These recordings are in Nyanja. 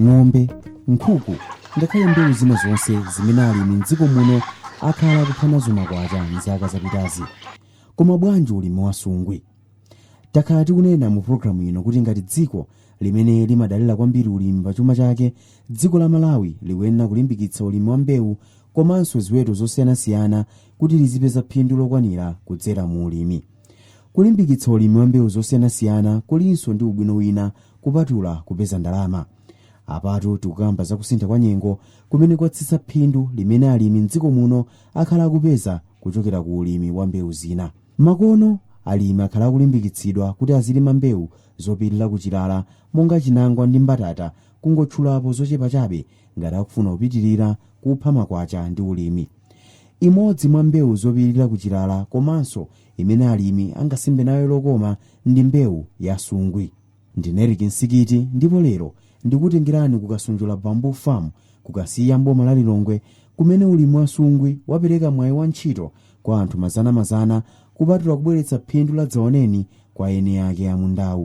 ng'ombe nkhuku ngakhale mbewu zina zonse zimene alimi m'dziko muno akhala akuphanazo makwacha m'zaka zapitazi koma bwanji ulimi wa sungwi takhala tikunena mu programu ino kuti ngati dziko limene limadalira kwambiri ulimi pa chuma chake dziko la malawi likuyenera kulimbikitsa ulimi wa mbewu komanso ziweto zosiyanasiyana kuti lizipeza phindu lokwanira kudzera mu ulimi kulimbikitsa ulimi wa mbewu zosiyanasiyana kulinso ndi ubwino wina kupatula kupeza ndalama apatu tikukamba za kusintha kwa nyengo kumene kwatsitsa phindu limene alimi m'dziko muno akhala akupeza kuchokera ku ulimi wa mbewu zina makono alimi akhala akulimbikitsidwa kuti azilima mbewu zopirira kuchilala monga chinangwa ndi mbatata kungotchulapo zochepa chabe ngati akufuna kupitirira kupha makwacha ndi ulimi imodzi mwa mbewu zopirira kuchilala komanso imene alimi angasimbe nayo lokoma ndi mbewu ya sungwi ndine Eric Nsikiti ndipo lero ndikutengerani ku Kasonjola Bamboo Farm ku Kasiya m'boma la Lilongwe kumene ulimi wa sungwi wapereka mwayi wa ntchito kwa anthu mazanamazana kupatula kubweretsa phindu ladzaoneni kwa eni ake a mundawu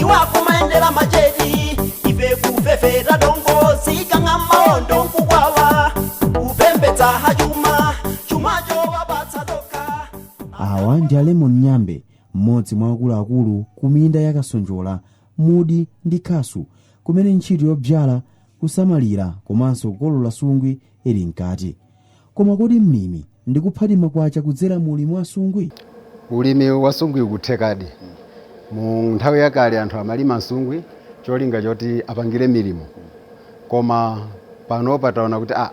iwo akumayendera macheti ife kufefeta dongo sikang'a maondo nkukwawa kupembedza hachuma chumacho wapatsa toka awa ndi a lemon nyambe mmodzi mwa akuluakulu ku minda ya kasonjola mudi ndi khasu kumene ntchito yodzala kusamalira komanso kukolola sungwi ili mkati koma kodi mlimi ndikuphadi makwacha kudzera mu ulimi wa sungwi ulimi wa sungwi ukuthekadi mu nthawi yakale anthu amalima nsungwi cholinga choti apangire milimo koma panopa taona kuti ah,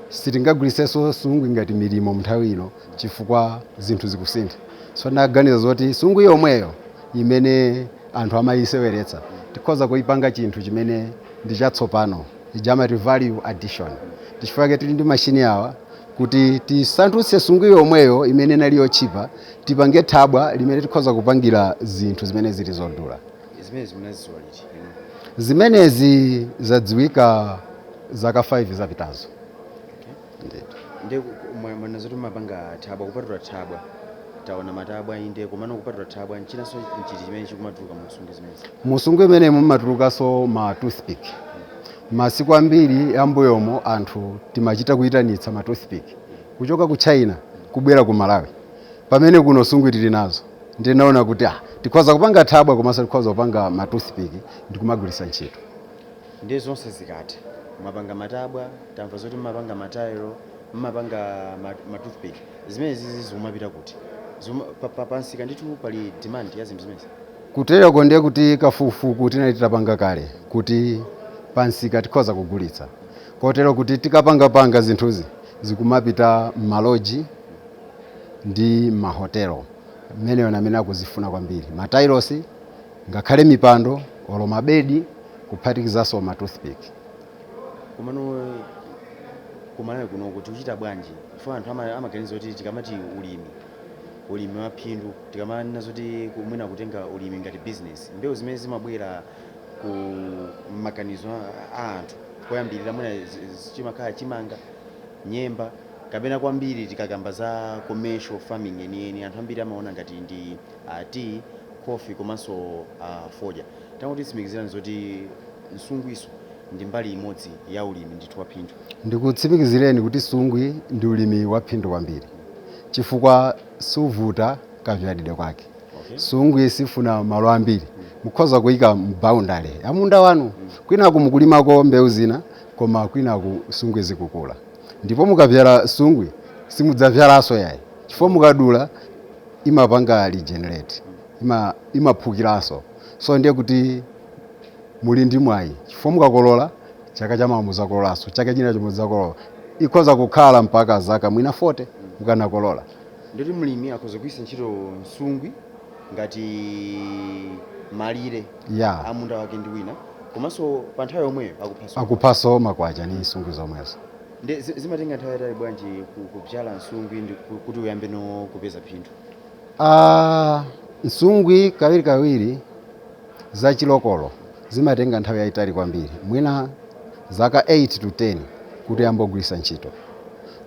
sitingagwiritsenso sungwi ngati milimo mnthawi ino chifukwa zinthu zikusintha so tinaganiza zoti sungwi yomweyo imene anthu amayiseweretsa tikhoza kuyipanga chinthu chimene ndi chatsopano ija amati value addition. Ndi chifukwa chake tili ndi mashini awa kuti tisandutse sungwi yomweyo imene inali yotchipa tipange thabwa limene tikhoza kupangira zinthu zimene zili zodula. Zimenezi munazidziwa liti? Zimenezi zadziwika zaka 5 zapitazo. Mwanena zoti mumapanga thabwa kupatula thabwa taona matabwa inde komano kupatula thabwa nchinanso nchiti chimene chikumatuluka mu nsungwi zimenezi mu sungwi imeneyi mumatulukanso ma toothpick masiku ambiri ambuyomo anthu timachita kuyitanitsa ma toothpick kuchoka ku china kubwera ku malawi pamene kuno sungwi tili nazo ndinaona kuti ah tikhoza kupanga thabwa komanso tikhoza kupanga ma toothpick ndikumagwiritsa ntchito Ndiye zonse zikati mwapanga matabwa, tamva zoti mumapanga ma tile, mumapanga ma ma toothpick, zimenezizi zikumapita kuti? Zikuma, pa, pa, pa msika ndithu pali demand ya zinthu zimenezi? Kuteroko ndiye kuti kafukufuku tinali titapanga kale kuti pa msika tikhoza kugulitsa kotero kuti tikapangapanga zinthuzi zikumapita mma lodge ndi mma hotel, amenewo ndi amene akuzifuna kwambiri ma tiles. ngakhale mipando olo mabedi kuphatikizanso ma toothpick komano kuMalawi kunoko tikuchita bwanji chifukwa anthu ama- amaganiza kuti tikamati ulimi ulimi wa phindu tikamanena zoti ku- mwina kutenga ulimi ngati business mbewu zimene zimabwera ku mmaganizo a- a anthu koyambirira mwina zi- zi- chimakhala chimanga nyemba kapena kwambiri tikakamba za commercial farming yeniyeni anthu ambiri amaona ngati ndi tea, coffee komanso a fodya. Tangotitsimikizirani zoti nsungwiso ndi mbali imodzi ya ulimi ndithu waphindu. Ndikutsimikizireni kuti nsungwi ndi ulimi waphindu kwambiri chifukwa suvuta kavyalidwe kwake. Okay. Nsungwi sifuna malo ambiri. Mukhoza kuyika m'boundary ya munda wanu kwinaku mukulimako mbewu zina koma kwinaku nsungwi zikukula. ndipo mukavyala sungwi simudzavyalaso yayi chifukwa mukadula imapanga regenerate ima, imaphukilaso so ndiye kuti muli ndi mwayi chifukwa mukakolola chaka chamawa muzakololanso chaka china cho muzakolola ikhoza kukhala mpaka zaka mwina 40 mukanakolola ndiye kuti mlimi akhoza kugwiritsa ntchito nsungwi ngati malire ya munda wake ndi wina komanso pa nthawi yomweyo akuphaso akuphaso makwacha ndi nsungwi zomwezo nde zi- zimatenga nthawi yaitali bwanji ku- kubyala nsungwi ndi ku- kuti uyambeno kupeza phindu Ah, nsungwi kawirikawiri za chi local zimatenga nthawi yayitali kwambiri mwina zaka 8 to 10 kuti uyambe kugwiritsa ntchito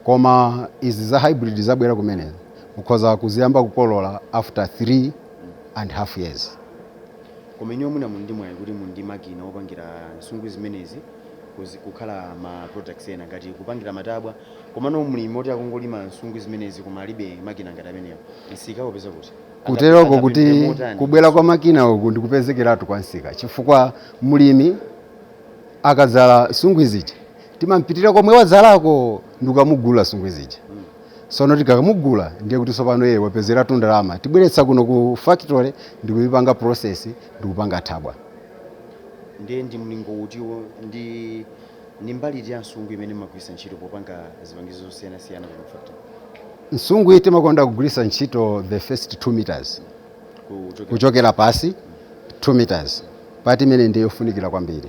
koma izi za hybrid zabwera kumene ukhoza kuziyamba kukolola after 3 and half years Koma inuyo mwina muli ndi mwayi kuti muli ndi makina opangira nsungwi zimenezi kuzi, kukhala ma products ena ngati kupangira matabwa komano mlimi oti akungolima nsungwi zimenezi koma alibe makina ngati amenewa msika awupeza kuti? Angape, angapindule motani? Kuteroko kuti kubwera kwa makina uku ndikupezekeratu kwa msika chifukwa mlimi akadzala nsungwi zija timampitira komwe wadzalako ndikukamugulira nsungwi zija. Sono tikamugula ndiye kuti sopano iye wapezeratu ndalama. Tibweretsa kuno ku factory ndikuyipanga process ndikupanga thabwa. Ndiye ndi mlingo uti ndi ndi mbali iti ya nsungwi imene mumagwiritsa ntchito popanga zipangizo zosiyanasiyana kuno ku factory? Nsungwi timakonda kugwiritsa ntchito the first 2 meters Kuchokera kuchokera pasi 2 meters part imene ndiye yofunikira kwambiri.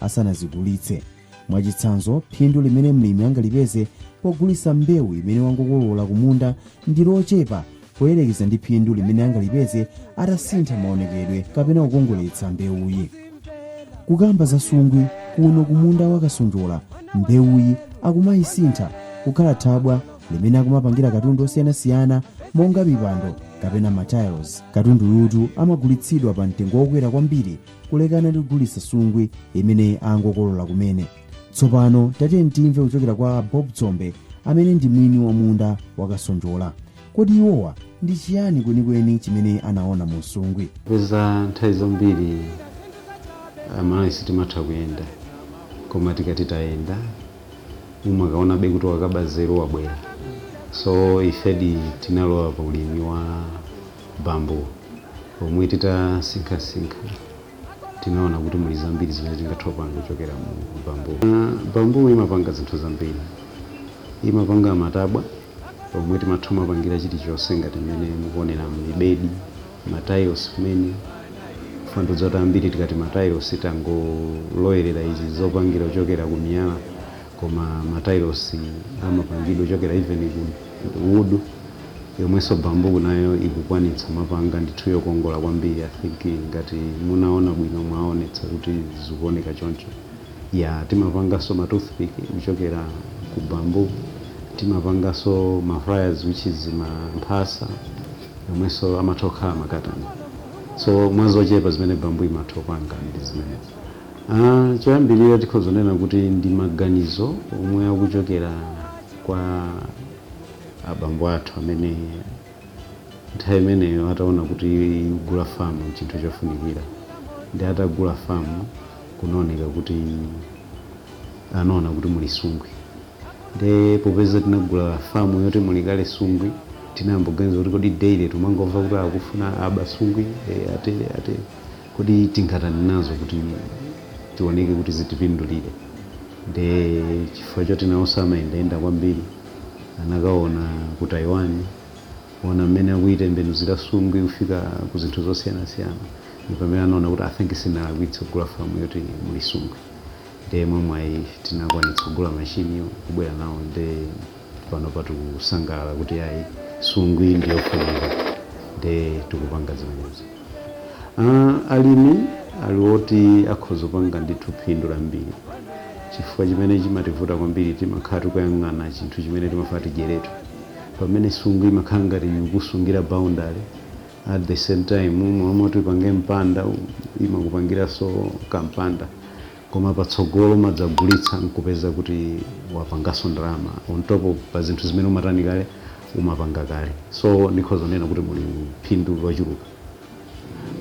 asanazigulitse. Mwachitsanzo, phindu limene mlimi angalipeze pogulitsa mbewu imene wangokolola kumunda ndi lochepa poyerekeza ndi phindu limene angalipeze atasintha maonekedwe kapena kukongoletsa mbewuyi. Kukamba za nsungwi kuno kumunda wa Kasonjola, mbewuyi akumayisintha kukhala thabwa limene akumapangira katundu osiyanasiyana monga mipando kapena matiles. Katunduyutu amagulitsidwa pa mtengo wokwera kwambiri kulekana ndi kugulitsa nsungwi imene angokolola kumene tsopano tatiyeni timve kuchokera kwa bob dzombe amene ndi mwini wa munda wakasonjola kodi iwowa ndi chiyani kwenikweni chimene anaona mu nsungwi popeza nthawi zambiri amalawi sitimatha kuyenda koma tikati tayenda umakaonabe kuti wakaba nzeru wabwera so ifedi tinalowa pa ulimi wa Bamboo, pomwe titasinkhasinkha tinaona kuti muli zambiri zimene tingathe kupanga kuchokera mu bamboo. Bamboo imapanga zinthu zambiri. Imapanga matabwa omwe timatha kumapangira chilichonse ngati mmene mukuoneramu, mibedi, ma tiles kumene, chifukwa ndikudziwa kuti ambiri tikati ma tiles tangozolowera izi zopangira kuchokera ku miyala. koma ma tiles amapangidwa kuchokera even ku wood yomwenso bamboo nayo ikukwanitsa kumapanga ndithu yokongola kwambiri i think ngati munaona bwino mwaonetsa kuti zikuoneka choncho ya timapanganso ma toothpick kuchokera ku bamboo timapanganso ma pliers which is ma mphasa yomwenso amatha kukhala makatani so mwa zochepa zimene bamboo imatha kupanga ndi zimenezi. Choyambirira tikhoza kunena kuti ndi maganizo omwe akuchokera kwa abambo athu amene nthawi imeneyo ataona kuti kugula famu n'chinthu chofunikira nde atagula famu kunaoneka kuti anaona kuti muli nsungwi nde popeza tinagula famu yoti muli kale nsungwi tinayamba kuganiza kuti kodi daily tumangomva kuti akufuna aba nsungwi eh, atere atere Kodi tingatani nazo kuti tioneke kuti zitipindulire? Nde chifukwa choti nawonso amayendayenda kwambiri. Anakaona ku Taiwan, kuona mmene akuitembenuzira nsungwi kufika ku zinthu zosiyanasiyana. Ndi pamene anaona kuti, I think sinalakwitse kugula famu yoti muli nsungwi. Ndiye mwamwayi tinakwanitsa kugula mashiniwo n'kubwera nawo nde. panopa tikusangalala kuti ayi nsungwi ndi yofunika nde tikupanga zimenezi uh, alimi ali oti akhoza kupanga ndithu phindu lambiri chifukwa chimene chimativuta kwambiri timakhala tikuyang'ana chinthu chimene timafuna tidyeretu pamene nsungwi imakhala ngati ikusungira boundary at the same time momwe tipange mpanda imakupangiranso kampanda koma patsogolo umadzagulitsa nkupeza kuti wapanganso ndalama on top of pa zinthu zimene umatani kale umapanga kale so ndikhoza kunena kuti muli phindu lochuluka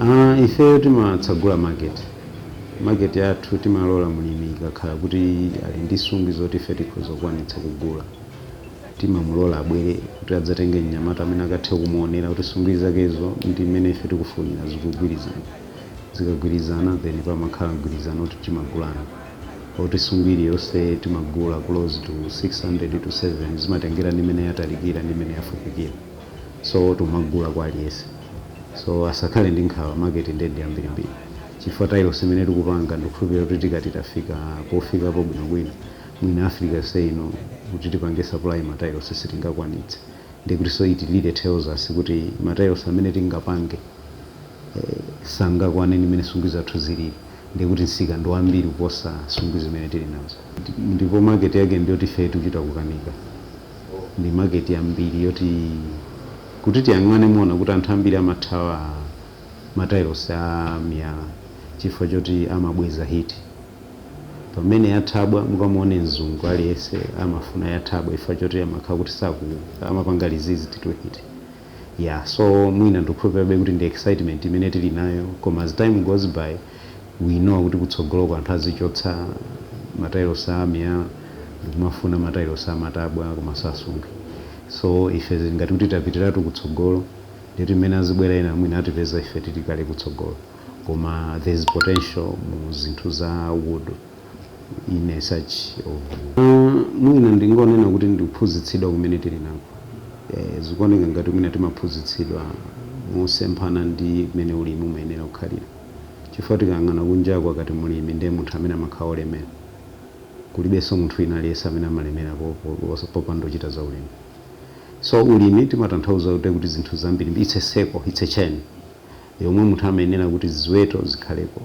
Ah, ifeyo timatsagula market market yathu timalola mlimi ikakhala kuti ali ndi nsungwi zoti ife tikhoza kukwanitsa kugula timamulola abwere kuti adzatenge mnyamata amene akathe kumuonera kuti nsungwi zakezo ndi mmene ife tikufunira zikugwirizana zikagwirizana then pamakhala mgwirizano oti timagulana oti nsungwi iliyonse timagula close to 600 to 7 zimatengera ndi mmene yatalikira ndi mmene yafupikira so timagula kwa aliyense so asakhale ndi nkhawa market nde ndi yambirimbiri chifukwa tailosi imene tikupanga ndikukhulupirira kuti tikati tafika pofikapo bwinobwino mwina africa yonse ino kuti tipange supply matailosi sitingakwanitse ndi kuti so it really tells us kuti matailosi amene tingapange sangakwane ndi mmene nsungwi zathu zilili ndiye kuti msika ndi wambiri kuposa nsungwi zimene tili nazo ndipo market yake ndi yoti ifeyo tikuchita kukanika ndi market yambiri yoti kuti tiyang'ane muona kuti anthu ambiri amathawa matailosi a miyala chifukwa choti amabweza heat pamene yathabwa mukamuone mzungu aliyense amafuna yathabwa chifukwa choti amakhala kuti saku amapanga resist to heat. yeah so mwina ndikukhulupirabe kuti ndi excitement imene tili nayo koma as time goes by we know kuti kutsogoloko anthu azichotsa matailosi a miyala ndikumafuna matailosi amatabwa komanso ansungwi so ife ngati kuti tapitiratu kutsogolo nde kuti mmene azibwera ena mwina atipeza ife tili kale kutsogolo koma there is potential mu zinthu za wood in a such of Mm, mwina ndingonena kuti ndikuphunzitsidwa kumene tili nako eh, zikuoneka ngati mwina timaphunzitsidwa mosemphana ndi mmene ulimi umayenera kukhalira chifukwa tikayang'ana kunjaku akati mlimi ndiye munthu amene amakhala olemera kulibenso munthu wina aliyense amene amalemera po- po- popanda kuchita za ulimi so ulimi timatanthauza kuti kuti zinthu zambiri it's a circle it's a chain yomwe munthu amayenera kuti ziweto zikhaleko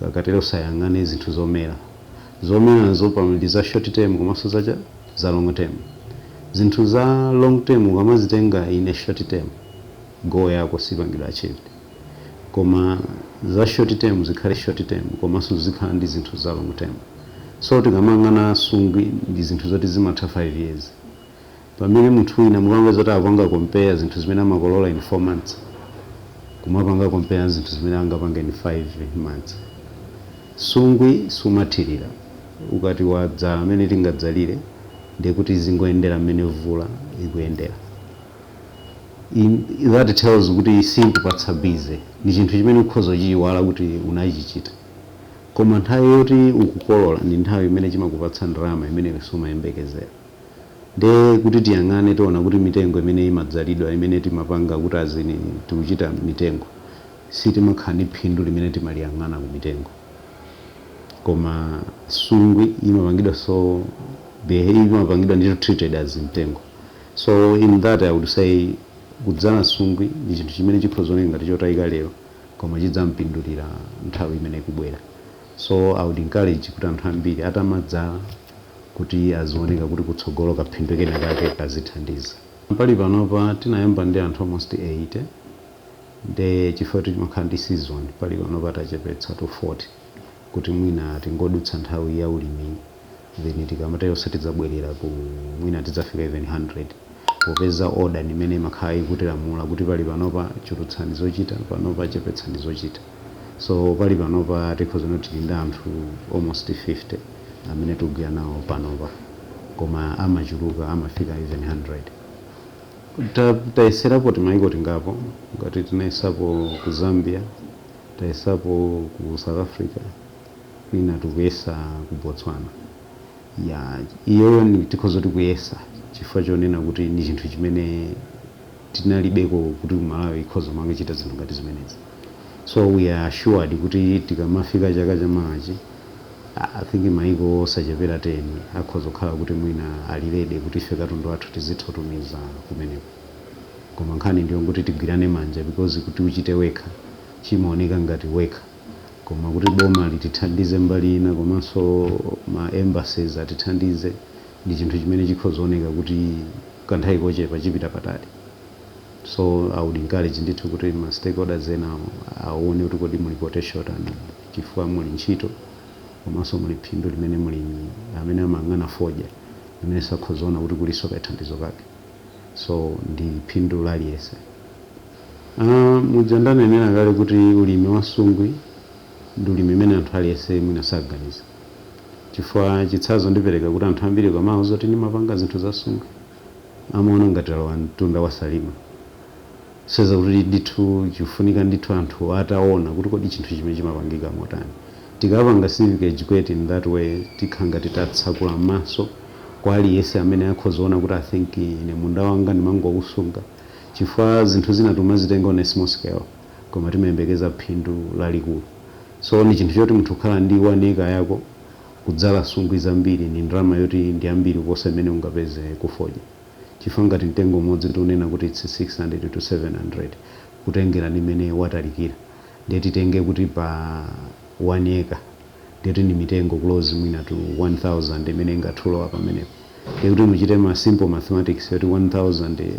ukatero uziyang'ane zinthu zomera zomerazo pali za short term komanso za cha za long term zinthu za long term ukamazitenga in a short term goal yako sipangidwa achieved koma za short term zikhale short term komanso uzikhala ndi zinthu za long term so tikamayang'ana nsungwi ndi zinthu zoti zimatha 5 years pamene munthu wina mukapanga zoti akupanga compare zinthu zimene amakolola in 4 months kumapanga compare zinthu zimene angapanga in 5 months nsungwi sumathirira ukati wadzala mmene tingadzalire ndiye kuti izingoyendera mmene mvula ikuyendera That tells kuti simakupatsa busy ndi chinthu chimene ukhoza kuchiyiwala kuti unachichita koma nthawi yoti ukukolola ndi nthawi imene chimakupatsa ndalama imene sumayembekezera Ndiye kuti tiyang'ane tiona kuti mitengo imene imadzalidwa imene timapanga kuti as in tikuchita mitengo sitimakhala ndi phindu limene timaliyang'ana ku mitengo koma sungwi imapangidwa so imapangidwa ndithu treated as mtengo so in that I would say kudzala sungwi ndi chinthu chimene chikhoza oneka ngati chotayika lero koma chidzampindulira nthawi imene ikubwera so I would encourage kuti anthu ambiri atamadzala kuti azioneka kuti kutsogolo kaphindu kenakake kazithandiza. Pali panopa tinayamba ndi anthu almost 80 nde chifukwa choti chimakhala ndi season pali panopa tachepetsa to 40 kuti mwina tingodutsa nthawi ya ulimiyi then tikamatero tidzabwerera ku mwina tidzafika even 100. Popeza order ndi imene imakhala ikutilamula kuti pali panopa chulutsani zochita, panopa chepetsani zochita. So pali panopa tikhoza kunena kuti tili ndi anthu almost 50 amene tikugwira nawo panopa koma amachuluka amafika even 100. Tayeserapo timaiko tingapo ngati tinayesapo ku Zambia, tayesapo ku South Africa, kwina tikuyesa ku Botswana. Ya, iyoyo ni, tikhoza kuti tikuyesa chifukwa chonena kuti ni chinthu chimene tinalibeko kuti Malawi ikhoza kumakachita zinthu ngati zimenezi. So we are assured kuti tikamafika chaka chamawachi, ah, I think mayiko osachepera 10 akhoza kukhala kuti mwina ali ready kuti ife katundu wathu tizitha kutumiza kumeneko. Koma nkhani ndi yongoti tigwirane manja because kuti uchite wekha chimaoneka ngati wekha. Koma kuti boma litithandize mbali ina komanso ma embassies atithandize ndi chinthu chimene chikhoza oneka kuti kanthawi kochepa chipita patali. So I would encourage ndithu kuti ma stakeholders ena awone kuti kodi muli potential yotani chifukwa muli ntchito komanso muli phindu limene mlimi amene amayang'ana fodya amenenso akhoza ona kuti kulinso kathandizo kake. So ndi phindu la aliyense. Aaa muja ndanenera kale kuti ulimi wa sungwi ndi ulimi umene anthu aliyese mwina saganiza chifukwa chitsanzo ndipereka kuti anthu ambiri ukamawauza kuti ndimapanga zinthu za sungwi amaona ngati walowa mtunda wa salima kusonyeza kuti ndithu chikufunika ndithu anthu ataona kuti kodi chinthu chimenechi chimapangika motani. Tikapanga civic educate in that way tikhala ngati tatsekula maso kwa aliyese amene akhoza kuona kuti I think ine munda wanga ndimangowusunga, chifukwa zinthu zina tumazitenga on a small scale koma timayembekeza phindu lalikulu so ndi chinthu choti munthu kukhala ndi 1 acre yako kudzala sungwi zambiri ni ndalama yoti ndi yambiri kuposa imene ungapeze kufodya chifukwa ngati mtengo umodzi tikunena kuti its 600 to 700 kutengera ndi mmene watalikira ndiye titenge kuti pa 1 acre ndiye kuti ndi mitengo close mwina to 1000 imene ingathe kulowa pamenepo ndiye kuti muchite ma simple mathematics yoti 1000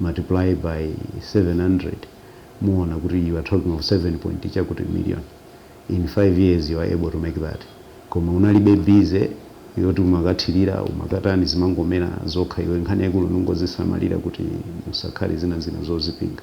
multiply by 700 muona kuti you are talking of 7 point chakuti million in 5 years you are able to make that koma unalibe busy yoti umakathirira umakatani zimangomera zokha iwe nkhani yaikulu ndingozisamalira kuti musakhale zina zina zozipinga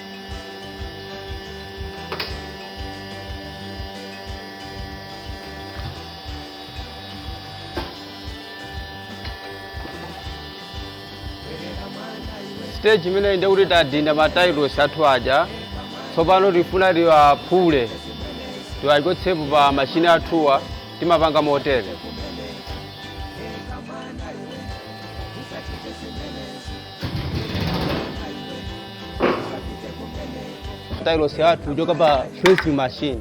stage imeneyi nde kuti tadinda matailosi athu aja tsopano tifuna tiwaphule tiwachotsepo pa machine athuwa timapanga motere Matailosi athu kuchoka pa pressing machine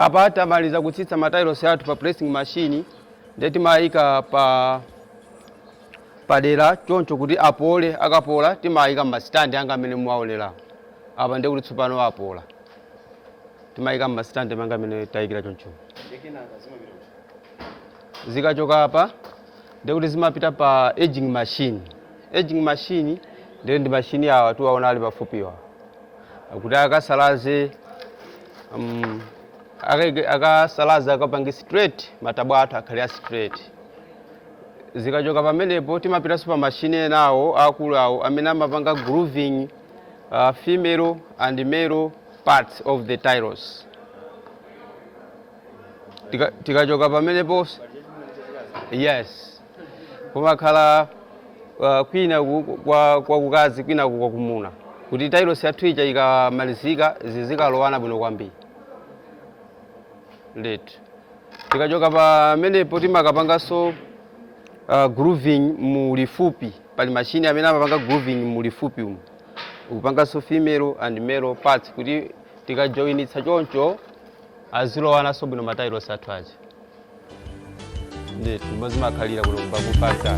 apa tamaliza kutsitsa matayilosi athu pa pressing machine nde timayika pa padera choncho kuti apole akapola timayika mmasitandi amenewa amene muwaonerawo apa ndiye kuti tsopano apola timayika mmasitandi mwangamu mmene tayikira choncho zikachoka apa ndiye kuti zimapita pa edging machine edging machine ndiye ndi mashini awa tiwaona ali pafupiwa kuti akasalaze um, akasalaze akapange straight matabwa athu akhale a straight Zikachoka pamenepo timapitanso pa machine ena awo aakulu awo amene amapanga grooving uh, female and male parts of the tiles. Tika, tikachoka pamenepo yes kumakhala uh, kwina ku- kwa kwa kukazi kwina ku- kwa kumuna kuti tiles yathu ija ikamalizika zizikalowana bwino kwambiri ndithu tikachoka pamenepo timakapanganso uh, grooving mu lifupi pali mashini amene amapanga grooving mu lifupi umu ukupanganso female and male parts kuti tikajoinitsa choncho azilowananso bwino matailosi athu aja ndithu ndipo zimakhalira kuno ku Bakupasa